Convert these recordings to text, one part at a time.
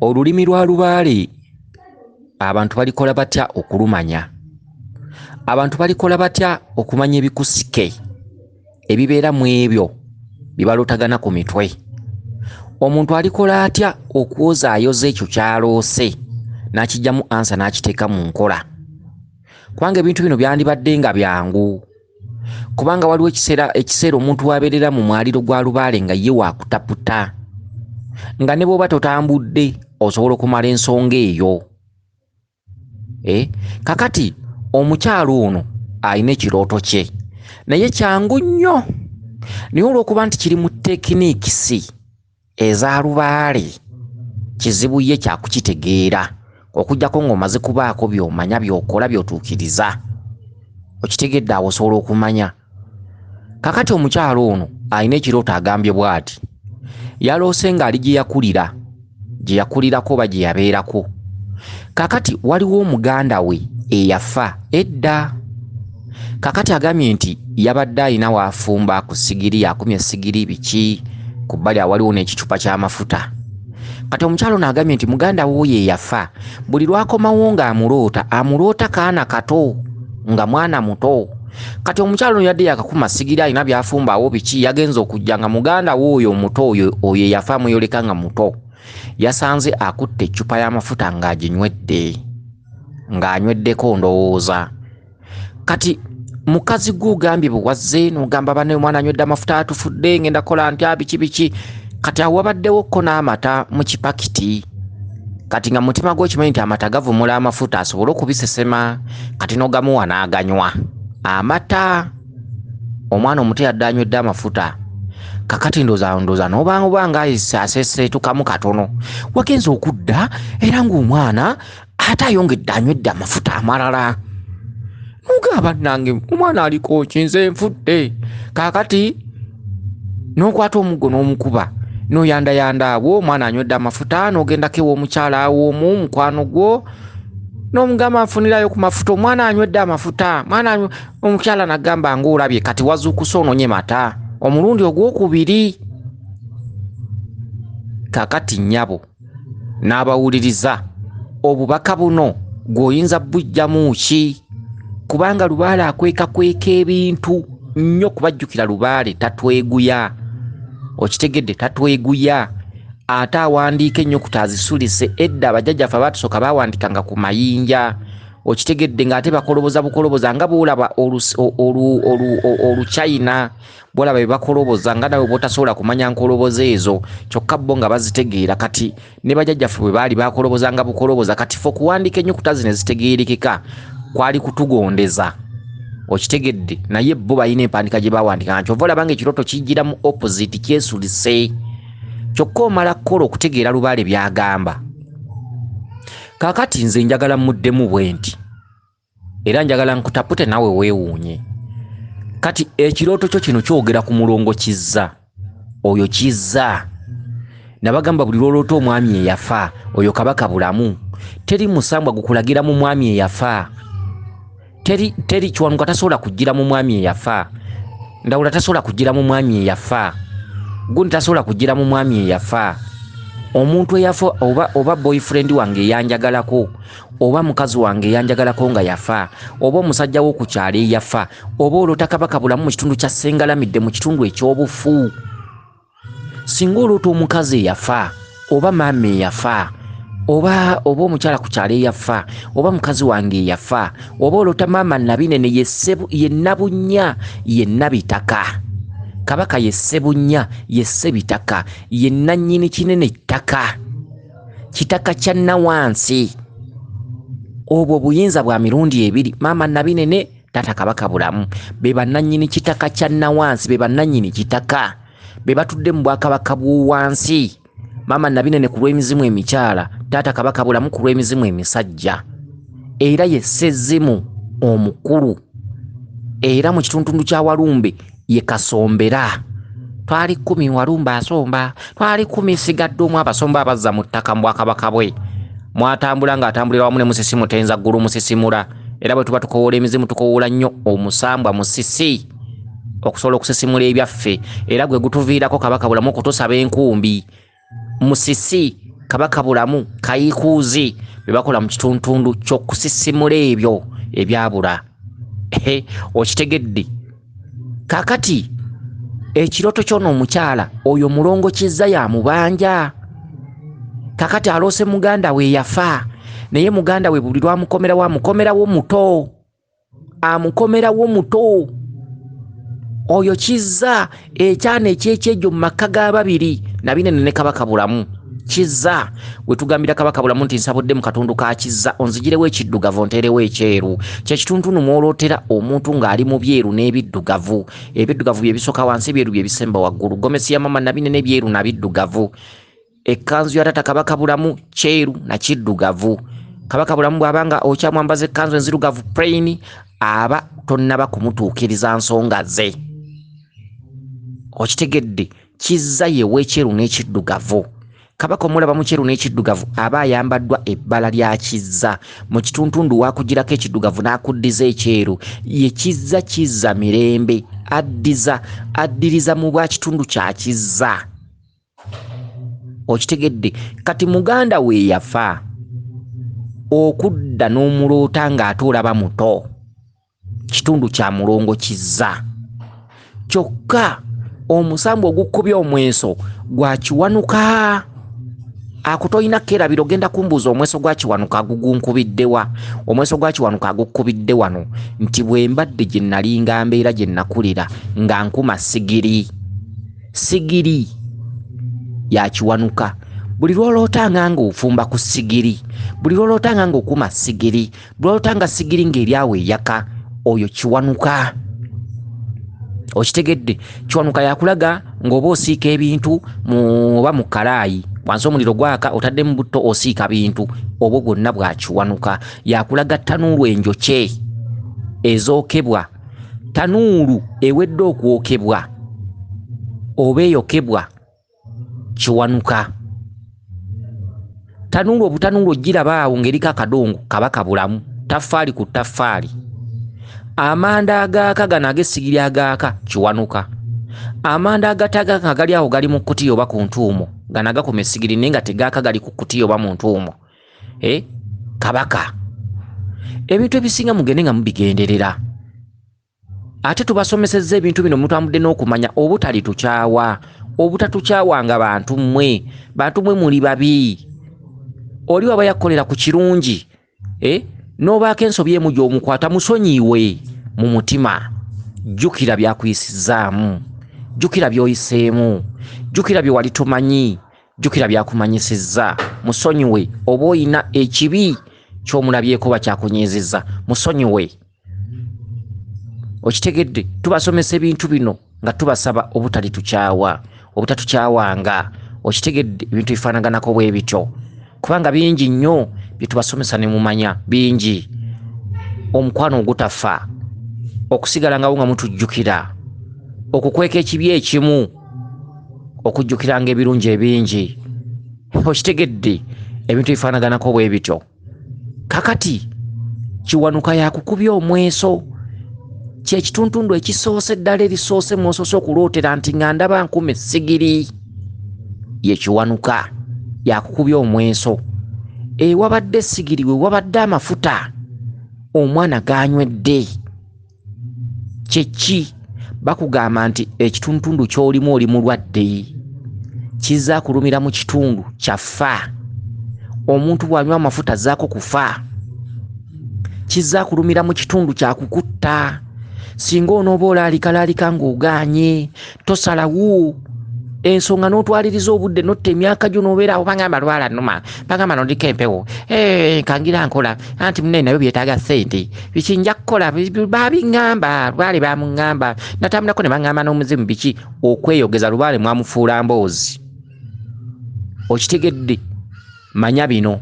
olulimi lwa lubaale abantu balikola batya okulumanya abantu balikola batya okumanya ebikusike ebibeera mu ebyo bibalotagana ku mitwe omuntu alikola atya okwozaayoza ekyo kyaloose n'akijjamu ansa n'akiteeka mu nkola kubanga ebintu bino byandibadde nga byangu kubanga waliwo ekiseera ekiseera omuntu wabeerera mu mwaliro gwa lubaale nga ye wakutaputa nga ne bwoba totambudde osobola okumala ensonga eyo e kakati omukyalo ono alina ekirooto kye naye kyangu nnyo naye olwokuba nti kiri mu tekinikisi eza lubaale kizibu ye kyakukitegeera okujjako ng'omaze kubaako by'omanya by'okola by'otuukiriza okitegedde awo osobola okumanya kakati omukyalo ono alina ekirooto agambye bw'ati yaloose ng'ali gye yakulira gye yakulirako oba gye yabeerako kakati waliwo omuganda we eyafa edda kakati agambye nti yabadde alina waafumba ku sigiri akumye esigiri biki ku bbali awaliwo n'ekicupa ky'amafuta kati omukyalo naagambye nti muganda wuuyo eyafa buli lwakomawo ng'amuloota amuloota kaana kato nga mwana muto kati omukyalo no yadde yakakuma sigiri alina byafumba awo biki yagenza okujja nga muganda wuuyo omuto oyo oyo eyafa amuyoleka nga muto yasanze akutte eccupa y'amafuta ng'aginywedde ng'anyweddeko ndowooza kati mukazi gwe ogambye bwewazze nogamba bane omwana anywedde amafuta atufudde ngenda kola ntya biki biki kati awo wabaddewo ko n'amata mu kipakiti kati nga mutima gwe okimanyi nti amata gavumula amafuta asobole okubisesema kati nogamuwa n'aganywa amata omwana omuto yadde anywedde amafuta kakati ndoza ndoza nobanga obanga asese tukamu katono wagenze okudda era ng'omwana ate ayongedde anywedde amafuta amalala nogaa bannange omwana aliko kinze nfudde kaakati n'okwata omuggo n'omukuba noyandayanda awo omwana anywedde amafuta nogendako ew'omukyala awo omu mukwano gwo n'omugamba nfunirayo ku mafuta omwana anywedde amafuta mwana omukyala nagamba nga olabye kati wazuukusa ononye mata omulundi ogwokubiri kakati nyabo n'abawuliriza obubaka buno gw'oyinza bujjamu ki kubanga lubaale akwekakweka ebintu nnyo kubajjukira lubaale tatweguya okitegedde tatweguya ate awandiika ennyukuta azisulise edda abajjajjaffe abaatusooka baawandikanga ku mayinja okitegedde ng'ate bakoloboza bukoloboza nga bwolaba oluchina bolaba bebakoloboza nga nawe botasobola kumanya nkoloboza ezo kyokka bo nga bazitegeera kati ne bajajjaffe bwe baali bakoloboza nga bukoloboza kati fe okuwandiika ennyukuta zino ezitegeerekeka kwali kutugondeza okitegedde naye bo balina empandika gye bawandika nga kyova olaba nga ekirooto kijjira mu opposite kyesulise kyokka omala kukola okutegeera lubaale byagamba kakati nze njagala muddemu bwe nti era njagala nkutapute nawe weewuunye kati ekirooto kyo kino kyogera ku mulongo kizza oyo kizza nabagamba buli lwoloota omwami eyafa oyo kabaka bulamu teri musambwa gukulagira mu mwami eyafa teri teri kiwanuka tasobola kujjira mu mwami eyafa ndawula tasobola kujjira mu mwami eyafa gundi tasobola kujjira mu mwami eyafa omuntu eyafa oba oba boyfriend wange eyanjagalako oba mukazi wange yanjagalako nga yafa oba omusajja wo ku kyalo eyafa oba oloota kabaka bulamu mu kitundu kya sengalamidde mu kitundu ekyobufu singa oloota omukazi eyafa oba maama eyafa oba oba omukyala ku kyalo eyafa oba mukazi wange eyafa oba oloota maama nabinene yenabunya yenabitaka kabaka yessebunya yessebitaka yenanyini kinene ttaka kitaka kya nawansi obwo buyinza bwa mirundi ebiri maama nabinene taata kabaka bulamu be bannannyini kitaka kya nawansi be bannannyini kitaka be batudde mu bwakabaka bw'owansi maama nabinene ku lw'emizimu emikyala taata kabaka bulamu ku lw'emizimu emisajja era ye ssezimu omukulu era mu kituntundu kya walumbe ye kasombera twali kumi walumba asomba twali kumi sigadde omu abasomba abazza mu ttaka mu bwakabaka bwe mwatambula ng'atambulira wamu ne musisi mutenza ggulu musisimula era bwe tuba tukowoola emizimu tukowoola nnyo omusambwa musisi okusobola okusisimula ebyaffe era gwe gutuviirako kabaka bulamu okutusaba enkumbi Musisi, Kabaka Bulamu, Kayiikuuzi bye bakola mu kituntundu ky'okusisimula ebyo ebyabula. Okitegedde? Kaakati ekirooto ky'ono omukyala oyo mulongo kizza ya mubanja. Kaakati aloose muganda we yafa naye muganda we buli lwamukomerawo amukomerawo muto. amukomerawo muto oyo kizza ekyana ekyekyejo mu makka ga babiri nabinene ne kabaka bulamu kizza wetugambira kabaka bulamu nti nsabudde mu katundu ka kizza onzigirewo ekiddugavu onteerewo ekyeru kyekitundu numwolotera omuntu ng'ali mu byeru n'ebiddugavu ebiddugavu byebisoka wansi ebyeru byebisemba waggulu gomesi ya mama nabinene ebyeru nabiddugavu Ekkanzu ya taata Kabaka Bulamu kyeru na kiddugavu. Kabaka Bulamu bw'aba nga okyamwambaza ekkanzu enzirugavu plain aba tonnaba kumutuukiriza nsonga ze. Okitegedde kizza yewa ekyeru n'ekiddugavu. Kabaka omulaba mu kyeru n'ekiddugavu aba ayambaddwa ebbala lya kizza mu kituntundu waakugirako ekiddugavu n'akuddiza ekyeru ye kizza kizza mirembe addiza addiriza mu bwa kitundu kya kizza. okitegedde kati muganda we yafa okudda n'omuloota ng'ate olaba muto kitundu kya mulongo kizza kyokka omusambu ogukubya omweso gwa kiwanuka akutolina kerabira ogenda kumbuuza omweso gwa kiwanuka agugunkubiddewa omweso gwa kiwanuka agukubidde wano nti bwe mbadde gye nalinga mbeera gye nakulira nga nkuma sigiri sigiri ya kiwanuka buli lwolootanga nga ofumba ku sigiri buli lwolootanga nga okuma sigiri buli lwolootanga sigiri ng'eryawo eyaka oyo kiwanuka okitegedde kiwanuka yakulaga ng'oba osiika ebintu oba mu kalaayi wansi omuliro gwaka otaddemu butto osiika bintu obwo bwonna bwakiwanuka yakulaga ttanuulu enjokye ezookebwa tanuulu ewedde okwokebwa oba eyokebwa kiwanuka tanuulu obutanuulu ogirabaawo ngaeriko akadongo kaba kabulamu taffaali ku taffaali amanda agaaka gano ag'essigiri agaaka kiwanuka amanda agatagaka gali awo gali mu kutiya oba ku ntuumo gano agakuma essigiri naye nga tegaaka gali ku kutiya oba mu ntuumo eh, kabaka ebintu ebisinga mugende nga mubigenderera ate tubasomesezza ebintu bino mutambudde n'okumanya obutali tukyawa obutatukyawanga bantu mmwe bantu mwe muli babi oli waba yakukolera ku kirungi eh, n'obaako ensobi emu gy'omukwata musonyiiwe mu mutima jjukira byakuyisizzaamu jjukira by'oyiseemu jjukira bye wali tomanyi jjukira byakumanyisizza musonyiwe oba oyina ekibi kyomulabyeko bakyakunyiizizza musonyiwe okitegedde tubasomesa ebintu bino nga tubasaba obutali tukyawa obutatukyawanga okitegedde ebintu bifaanaganako bwe bityo kubanga bingi nnyo bye tubasomesa ne mumanya bingi omukwano ogutafa okusigala ngawo nga mutujjukira okukweka ekibi ekimu okujjukiranga ebirungi ebingi okitegedde ebintu ebifaanaganako bwe bityo kakati kiwanuka yakukubya omweso kyekituntundu ekisoose eddala erisoose mwosoose okulootera nti nga ndaba nkuma essigiri yekiwanuka yakukubya omweso ewabadde essigiri wewabadde amafuta omwana ganywedde kyeki bakugamba nti ekitundutundu kyolimu oli mulwadde kizza kulumira mu kitundu kyafa omuntu bwanywa amafuta zaako kufa kizza kulumira mu kitundu kyakukutta singa onooba olaalikalalika ng'ogaanye tosalawo ensonga n'otwaliriza obudde notta emyaka gyo n'obeera awo bagamba lwala numa bagamba nodiko empewo eh, kangira nkola anti munaye nabyo byetaaga sente biki nja kukola babiŋamba lwale bamuŋamba natambulako ne baŋamba n'omuzimu biki okweyogeza lwale mwamufuula mboozi okitegedde Manya bino,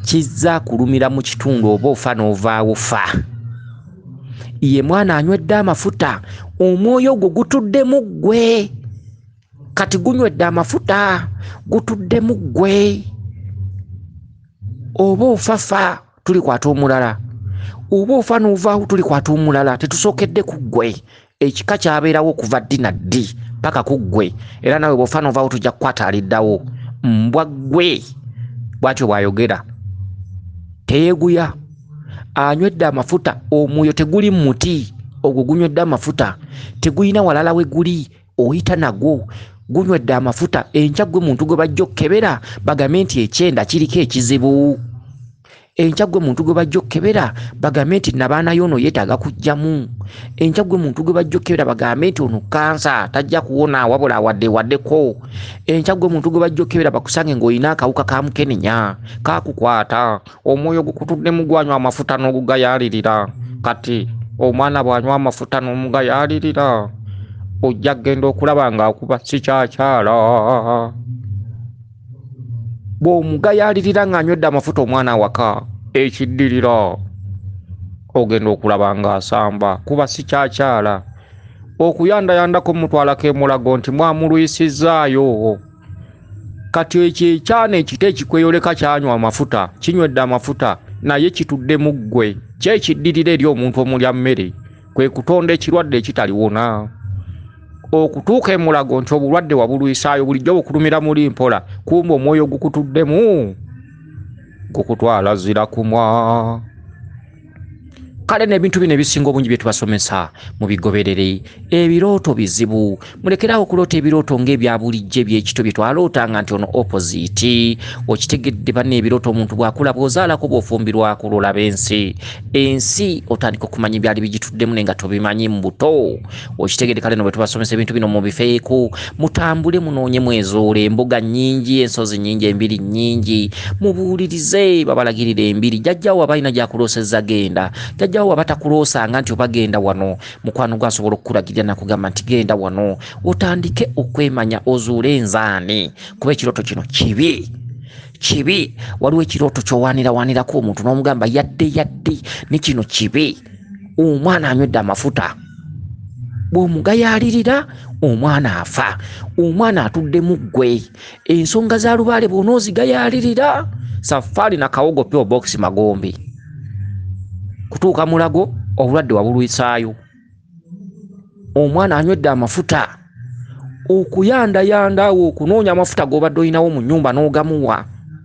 Kizza kulumira mu kitundu oba ofa n'ovaawo fa. Ye mwana anywedde amafuta, omwoyo ogwo gutuddemu ggwe. Kati gunywedde amafuta, gutuddemu ggwe. Oba ofa fa, tulikwata omulala. Oba ofa n'ovaawo, tulikwata omulala. Tetusookedde ku ggwe. ekika kyabeerawo okuva ddi na ddi paka ku ggwe era nawe bwofa novawo tujja kukwata aliddawo mbwa ggwe bwatyo bwayogera teyeguya anywedde amafuta omwoyo teguli muti ogwo gunywedde amafuta tegulina walala we guli oyita nagwo gunywedde amafuta enkya gwe muntu gwe bajja okukebera bagambe nti ekyenda kiriko ekizibu enkya gwe muntu gwe bajja okukebera bagambe nti nabaana yoono yeetaaga kujjamu enkya gwe muntu gwe bajja okukebera bagambe nti ono kansa tajja kuwona wabula awadde waddeko enkya gwe muntu gwe bajja okukebera bakusange ng'olina akawuka ka mukenenya kaakukwata omwoyo gukutuddemu gwanywa amafuta n'ogugayaalirira kati omwana bw'anywa amafuta n'omugayaalirira ojja kugenda okulaba ng'akuba sikyakyala bw'omugayaalirira ng'anywedde amafuta omwana awaka ekiddirira ogenda okulaba ng'asamba kuba sikyakyala okuyandayandako mutwalako emulago nti mwamulwisizaayo kati ekyo ekyana ekito ekikweyoleka kyanywa amafuta kinywedde amafuta naye kitudde mu ggwe kyekiddirira eri omuntu omulya mmere kwe kutonda ekirwadde ekitaliwona okutuuka emulago nti obulwadde wabulwisaayo bulijjo bukulumira muli mpola kumba omwoyo gukutuddemu gukutwala zira kumwa kale n'ebintu bino ebisinga obungi bye tubasomesa mu bigoberere ebirooto bizibu mulekerawo okuloota ebirooto ngaebyabulijjo ebyekito byetwalootanga nti ono opposite okitegedde banna ebirooto omuntu bwakula bwozaalako bwofumbirwako lwolaba ensi ensi otandika okumanya ebyali bigituddemu naye nga tobimanyi mubuto okitegedde kale no bwetubasomesa ebintu bino mubifeeko mutambule munoonye mwezuule embuga nyingi ensozi nyingi embiri nyingi mubuulirize babalagirira embiri jajjawo aba alina gyakuloosezza genda jajjawo waba takuloosanga nti obagenda wano mukwano gwe asobola okukulagirira nakugamba nti genda wano otandike okwemanya ozuule enzaani kuba ekirooto kino kibi kibi waliwo ekirooto kyowanirawanirako omuntu n'omugamba yadde yadde ne kino kibi omwana anywedde amafuta bw'omugayaalirira omwana afa omwana atudde mu ggwe ensonga za lubaale bwona ozigayalirira safaari nakawogo pure box magombe kutuuka mulago obulwadde wabulwisaayo omwana anywedde amafuta okuyandayandaawo okunoonya amafuta gobadde olinawo mu nyumba n'ogamuwa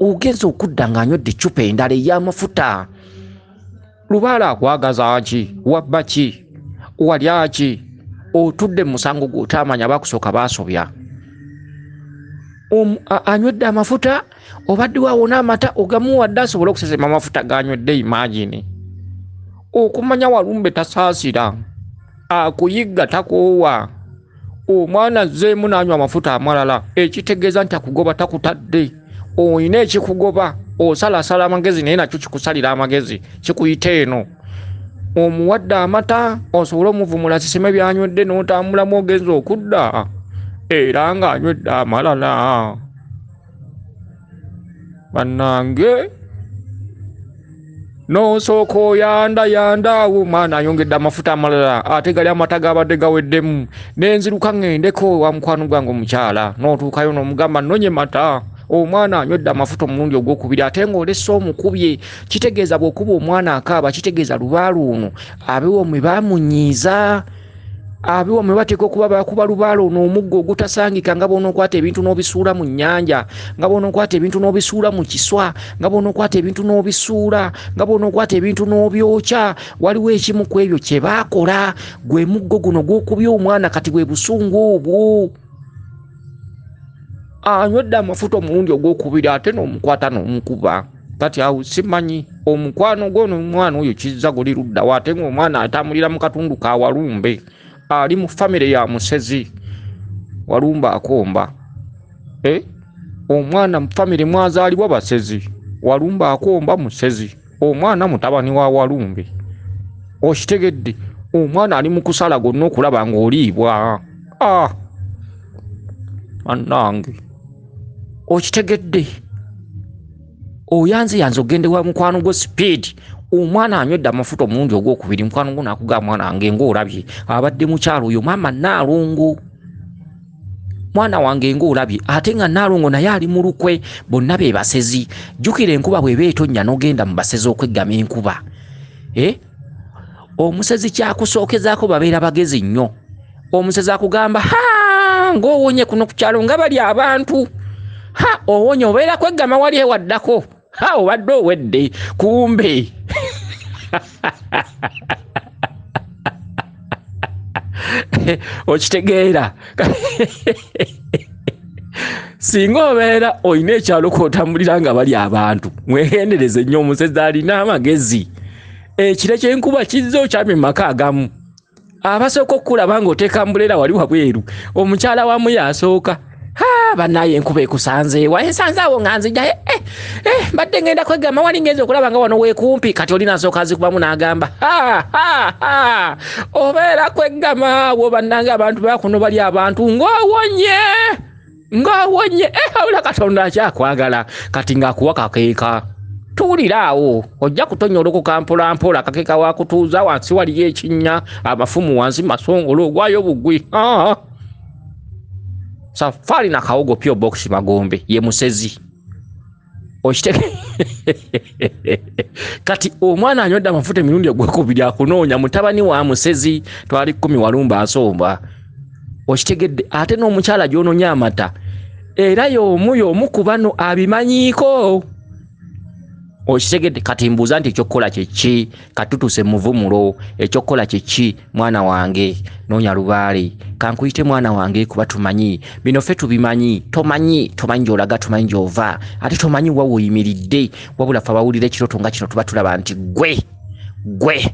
ogenza okudda ng'anywedde eccupa endala ey'amafuta lubaala akwagaza ki wabba ki walya ki otudde mu musango gwotaamanya bakusooka baasobya anywedde amafuta obaddewo awona amata ogamuwadde asobole okusesema amafuta ganywedde imagini okumanya walumbe tasaasira akuyigga takoowa omwana azzeemu n'anywa amafuta amalala ekitegeeza nti akugoba takutadde olina ekikugoba osalasala amagezi naye nakyo kikusalira amagezi kikuyita eno omuwadde amata osobole omuvumula siseme byanywedde n'otambulamu ogenza okudda era ng'anywedde amalala bannange nosooka oyanda yanda awo omwana ayongedde amafuta amalala ate gali amata gabadde gaweddemu nenziruka ŋendeko wa mukwano gwange omukyala notuukayo nomugamba nonye mata omwana anywedde amafuta omulundi ogwokubiri ate ngaolese omukubye kitegeeza bwokuba omwana akaaba kitegeeza lubaalu ono abewo mwe bamunyiiza abiwamwe bateeka okuba bakuba lubaala ono omuggo ogutasangika nga bwonokwata ebintu n'obisuula mu nnyanja nga bwonokwata ebintu n'obisuula mu kiswa nga bwonokwata ebintu n'obisuula nga bwonokwata ebintu n'obyokya waliwo ekimu ku ebyo kye baakola gwe muggo guno gwokubya omwana kati bwe busungu obwo anywedde amafuta omulundi ogwokubira ate n'omukwata n'omukuba kati awo simanyi omukwano gwono omwana oyo kizza guli luddawo ate ngaomwana atambulira mu katundu ka walumbe ali mu famire ya musezi walumbe akomba eh? omwana mu famire mwazaalibwa basezi walumbe akomba musezi omwana mutabani wa walumbe okitegedde omwana ali mu kusala gonna okulaba ng'oliibwa ah! anange okitegedde oyanze yanze ogende wa mukwano gwo speed omwana anywedde amafuta omulundi ogwokubiri mukwano gwo nakugaa mwana wange ngaolabye abadde mukyalo oyo maama naalongo mwana wange ngaolabye ate nga naalongo naye ali mu lukwe bonna be basezi jjukira enkuba bweba etonnya nogenda mu basezi okweggama enkuba eh? omusezi kyakusookezaako babeera bagezi nnyo omusezi akugamba ha ngaowonye kuno ku kyalo nga bali abantu ha owonye obeera kweggama wali ewaddako ha obadde owedde kumbe okitegeera singa obeera olina ekyalo kwotambulira nga bali abantu mwegendereze nnyo omusezi alina amagezi ekire kyenkuba kizza okyamye mumaka agamu abasooka okukulaba nga oteeka mbuleera wali wabweru omukyala wamu yasooka banaye enkuba ekusanze wa ensanze awo nga nzija eh, eh, eh, mbadde ngenda kwegamba wali ngenza okulaba nga wano wekumpi kati oli nasooka nzikubamu n'agamba obeera kwegama awo bannange abantu bakuno bali abantu ng'owonye ng'owonye eh, awula katonda akyakwagala kati ng'akuwa kakeeka tuwulira awo ojja kutonyolokoka mpolampola kakeka wakutuuza wansi waliyo ekinnya amafumu wansi masongolo ogwayo bugwi safari na kawogo pyo box magombe ye musezi okitege kati omwana anywedde amafuta emirundi ogwekubiri akunoonya mutabani wa musezi twali kumi walumba asomba okitegedde ate n'omukyala gyononya amata era yomu yomu ku bano abimanyiiko okitegedde kati mbuuza nti ekyokukola kyeki katutuse muvumulo ekyokukola kyeki mwana wange nonya lubaale kankuyite mwana wange kuba tumanyi bino fe tubimanyi tomanyi tomanyi gyolaga tumanyi gyova ate tomanyi wa woyimiridde wabula fe abawulira ekiroto nga kino tuba tulaba nti gwe gwe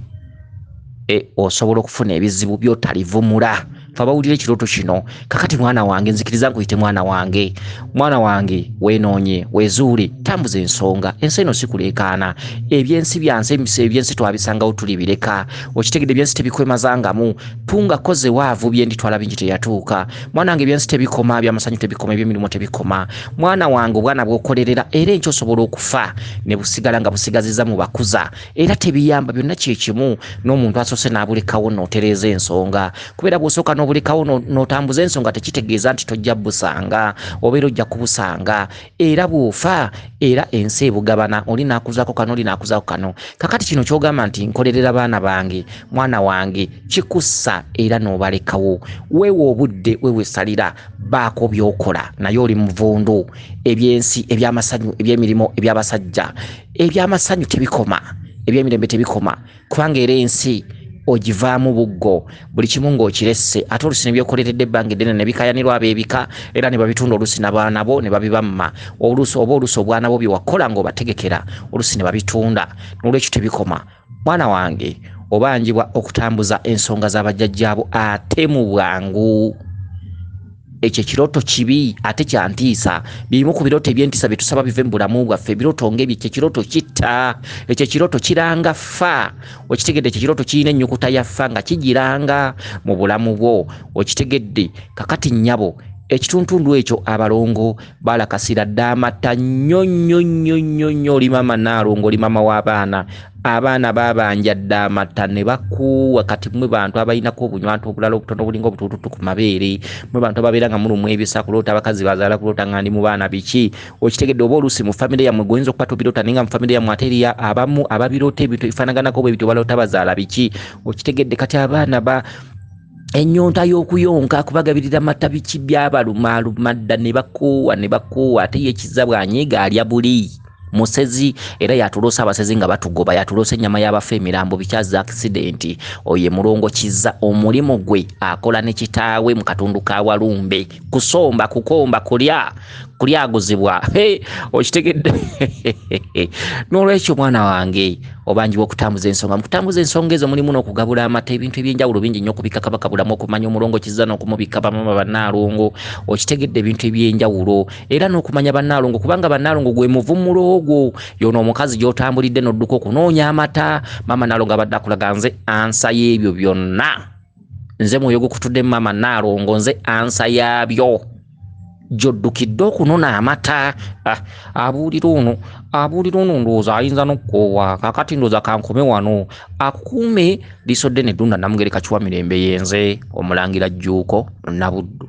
e, osobola okufuna ebizibu byotalivumula fabawulira ekirooto kino kakati mwana wange nzikiriza nkuyite mwana wange mwana wange wenoonye wezuule tambuza ensonga ensi eno sikuleekaana ebyensi byansi emisa ebyensi twabisangawo tuli bireka okitegedde ebyensi tebikwemazangamu tunga koze waavu byendi twala bingi teyatuuka mwana wange ebyensi tebikoma byamasanyu tebikoma ebyemirimu tebikoma mwana wange obwana bwokolerera era enkyosobola okufa ne busigala nga busigaziza mu bakuza era tebiyamba byonna kyekimu n'omuntu asoose n'abulekawo nootereeza ensonga kubeera bwosooka n'obulekawo nootambuza ensonga tekitegeeza nti tojja busanga obeera ojja kubusanga era bwofa era ensi ebugabana oli naakuzako kano oli naakuzako kano kakati kino kyogamba nti nkolerera baana bange mwana wange kikussa era n'obalekawo weewa obudde wewesalira baako byokola naye oli muvundu ebyensi ebyamasanyu ebyemirimu ebyabasajja ebyamasanyu tebikoma ebyemirembe tebikoma kubanga era ensi ogivaamu buggo buli kimu ng'okiresse ate olusi nebyokoleredde ebbanga eddene nebikayanirwa abebika era ne babitunda olusi nabaana bo ne babibamma olusi oba olusi obwana bo byewakola ng'obategekera olusi ne babitunda nolwekyo tebikoma mwana wange obanjibwa okutambuza ensonga za bajjajjaabo ate mu bwangu ekyo ekirooto kibi ate kyantiisa bimu ku birooto ebyentiisa bye tusaba bive mu bulamu bwaffe ebirooto ngaebyo ekyo ekirooto kitta ekyo ekirooto kiranga ffa okitegedde ekyo ekirooto kirina ennyukuta ya ffa nga kigiranga mu bulamu bwo okitegedde kakati nnyabo ekituntundu ekyo abalongo bala kasira damatta nnyo nnyo nnyo nnyo nnyo oli mama naalongo oli mama w'abaana abaana babanja damatta ne bakuuwa kati mwe bantu abalinako obunywantu obulala obutono obulinga obutuututu ku mabeere mwe bantu ababeera nga mulumwa ebisa kuloota abakazi bazaala kuloota nga ndi mu baana biki okitegedde oba oluusi mu famire yammwe goyinza okuba tobiroota naye nga mu famire yammwe ate eriya abamu ababiroota ebintu ebifaanaganako bwe bityo baloota bazaala biki okitegedde kati abaana ba ennyonta y'okuyonka kubagabirira mata biki byabalumaaluma dda ne bakoowa ne bakoowa ate ye kizza bwanyiiga alya buli musezi era yatuloosa abasezi nga batugoba yatuloosa ennyama y'abafa emirambo bikyazza akisidenti oyo emulongo kizza omulimu gwe akola ne kitaawe mu katundu ka walumbe kusomba kukomba kulya kulyaguzibwa okitegedde n'olwekyo mwana wange obanjibwa okutambuza ensonga mukutambuza ensonga ezo mulimu n'okugabula amata ebintu ebyenjawulo bingi nnyo okubika kabaka bulamu okumanya omulongo kiza n'okumubika bamama bannaalongo okitegedde ebintu ebyenjawulo era n'okumanya bannaalongo kubanga bannaalongo gwe muvumulo ogwo yono omukazi gy'otambulidde n'odduka okunoonya amata mama naalongo abadde akulaga nze ansa y'ebyo byonna nze mwoyo gukutudde maama naalongo nze ansa yaabyo gyoddukidde okunona amata ah, abuulira ono abuulira ono ndowooza ayinza nokukoowa kakati ndowooza kankome wano akukuume liiso ddene ddunda namugereka kiwa mirembe yenze omulangira jjuuko nabuddu